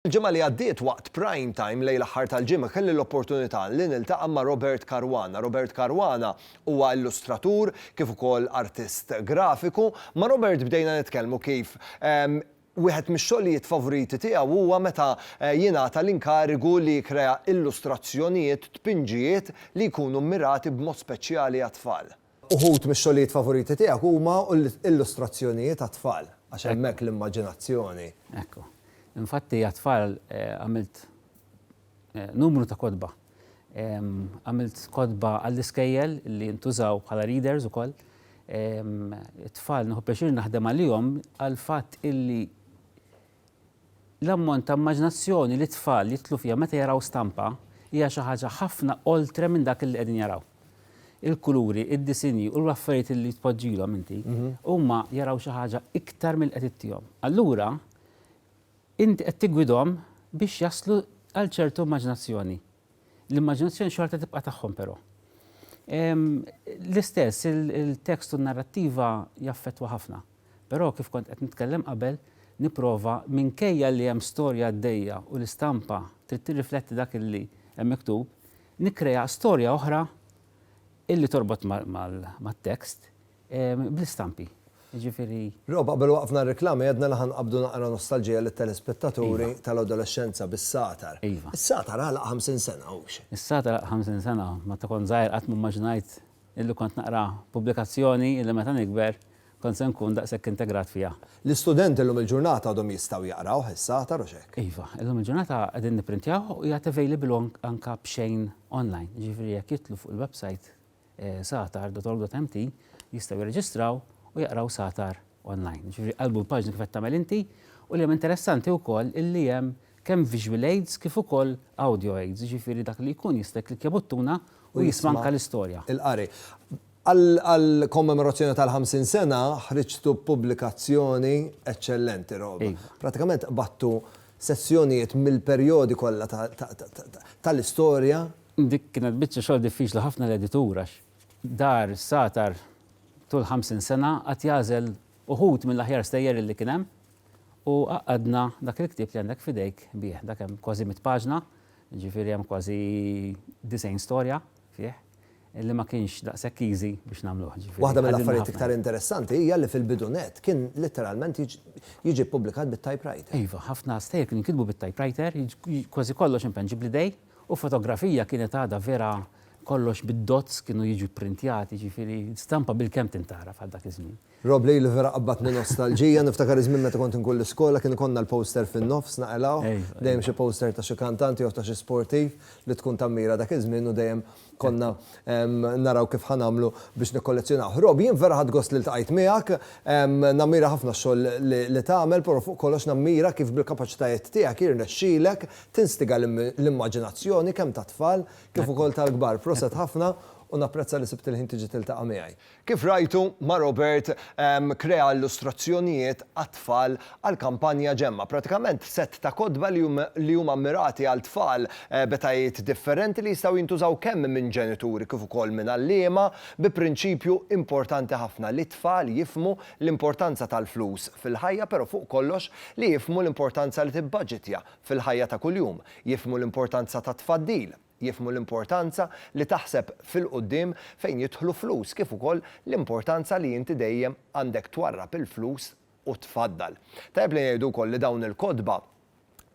Il-ġimgħa li għaddiet waqt Prime Time lejl aħħar tal-ġimgħa kelli l-opportunità li niltaqa' ma' Robert Caruana. Robert Caruana huwa illustratur kif ukoll artist grafiku. Ma' Robert bdejna nitkellmu kif Wieħed mix-xogħlijiet favoriti tiegħu huwa meta jingħata l-inkarigu li jikkrea illustrazzjonijiet, tpinġijiet, li jkunu mmirati b'mod speċjali għat-tfal. Uħud mix-xogħlijiet favoriti tiegħek huma illustrazzjonijiet għat-tfal, għax hemmhekk l-immaġinazzjoni. Ekku. Infatti għat-tfal għamilt numru ta' kotba. Għamilt kotba għall-iskejjel li jintużaw bħala readers ukoll. It-tfal nieħu pjaċir naħdem għalihom għall-fatt illi l-ammont ta' immaġinazzjoni li t-tfal jidħlu fiha meta jaraw stampa hija xi ħaġa ħafna oltre minn dak li qegħdin jaraw. Il-kuluri, id-disinji u l-affarijiet li tpoġġilhom inti huma jaraw xi ħaġa iktar milli qed ittihom. Allura Int qed tiggwidhom biex jaslu għal ċertu immaġinazzjoni. L-immaġinazzjoni xorta tibqa' tagħhom però. L-istess, il-tekst u n-narrattiva jaffettwa ħafna. Però, kif kont qed nitkellem qabel, nipprova, minkejja li hemm storja għaddejja u l-istampa trid tirrifletti dak li hemm miktub, nikkrea storja oħra li torbot mat-tekst, Bl-istampi, jiġifieri. Rob, qabel waqqfna r-riklami għedna li ħa nqabbdu naqra nostalġija lit-telespettaturi tal-adolexxenza bis-Satar. Iva. Is-Satar għalaq 50 sena, hux? Is-Satar għalaq 50 sena. Meta kont żgħir qatt m'immaġinajt illi kont naqra pubblikazzjoni illi meta nikber kont se nkun daqshekk integrat fiha. L-istudenti llum il-ġurnata għadhom jistgħu jaqrawh, is-Satar, hux hekk? Iva. Illum il-ġurnata qegħdin nipprintjawh u jgħad available anke b'xejn online. Jiġifieri jekk jidħlu fuq il-website satar.org.mt jistgħu jirreġistraw u jaqraw satar online. Ġifieri qalbu l-paġna kif qed tagħmel inti u li hemm interessanti wkoll illi hemm kemm visual aids kif ukoll audio aids, ġifieri dak li jkun jista' jikklikkja buttuna u jisma' anke l-istorja. Il-qari. Għall-kommemorazzjoni tal-50 sena ħriġtu b'pubblikazzjoni eċċellenti, Rob. Prattikament qbadtu sezzjonijiet mill-perjodi kollha tal-istorja Dik kienet biċċa xogħol diffiċli ħafna l-editur għax dar satar tul 50 sena qagħad jagħżel uħud mill-aħjar stejjer li kien hemm u għaqqadna dak il-ktieb li għandek f'idejk bih. Dak hemm kważi mitt paġna, jiġifieri hemm kważi 90 storja fih li ma kienx daqshekk easy biex nagħmluh. Waħda mill-affarijiet iktar interessanti hija li fil-bidu nett kien litteralment jiġi ppubblikat bit-typewriter. Iva, ħafna stejjer kienu jinkitbu bit-typewriter, kważi kollox impenn ġib l-idej, U fotografija kienet għadha vera kollox bid-dots kienu jiġu pprintjati, jiġifieri stampa bilkemm tintgħaraf għal dak iż-żmien. Rob Lee li vera qabbadtni nostalġija, niftakar iż-żmien meta kont inkun l-iskola kien ikollna l-poster fin-nofs naqilgħuh, dejjem xi poster ta' xi kantant jew ta' xi sportiv li tkun tammira dak iż-żmien u dejjem konna naraw kif ħa nagħmlu biex nikkollezzjonaw. Rob, jien vera ħadd gost li ltqajt miegħek, nammira ħafna xogħol li tagħmel, però fuq kollox nammira kif bil-kapaċitajiet tiegħek jirnexxilek tinstiga l-immaġinazzjoni kemm tat-tfal kif ukoll tal-kbar. Proset ħafna u napprezza li sibt il-ħin tiġi tiltaqa' miegħi. Kif rajtu, ma' Robert krea illustrazzjonijiet għat-tfal għall-kampanja Ġemma', pratikament sett ta' kotba li huma mmirati għal tfal b'etajiet differenti li jistgħu jintużaw kemm minn ġenituri kif ukoll minn għalliema bi prinċipju importanti ħafna li t-tfal jifhmu l-importanza tal-flus fil-ħajja però fuq kollox li jifhmu l-importanza li tibbaġitja fil-ħajja ta' kuljum, jifhmu l-importanza tat-tfaddil. jifhmu l-importanza li taħseb fil-quddiem fejn jidħlu flus kif ukoll l-importanza li inti dejjem għandek twarrab il-flus u tfaddal. Tajjeb li ngħidu wkoll li dawn il-kotba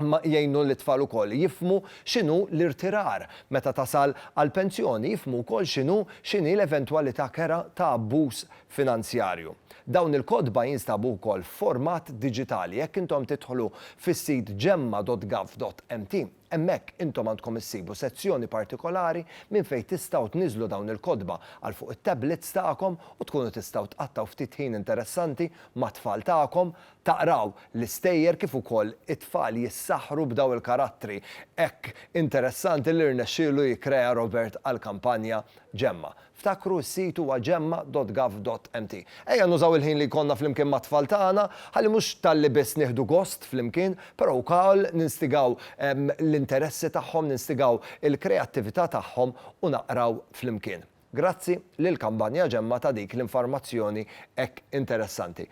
jgħinu lit-tfal ukoll jifhmu x'inhu l-irtirar meta tasal għall-pensjoni, jifhmu wkoll x'inhu x'inhi l-eventwalità kerha ta' abbuż finanzjarju. Dawn il-kotba jinstabu wkoll f'format diġitali jekk intom tidħlu fis-sit gemma.gov.mt. Hemmhekk intom għandkom issibu sezzjoni partikolari minn fejn tistgħu tniżżlu dawn il-kotba għal fuq it-tablets tagħkom u tkunu tistgħu tqattgħu ftit ħin interessanti mat-tfal tagħkom, taqraw l-istejjer kif ukoll it-tfal jissaħħru b'daw il-karattri hekk interessanti li rnexxielu jikkrea Robert għall-kampanja Ġemma. Ftakru s-sit huwa gemma.gov.mt. Ejja nużaw il-ħin li jkollna flimkien mat-tfal tagħna ħalli mhux talli biss nieħdu gost flimkien, però wkoll ninstigaw l-interessi tagħhom, ninstigaw il-kreattività tagħhom u naqraw flimkien. Grazzi lil Kampanja Gemma ta' dik l-infarmazzjoni hekk interessanti.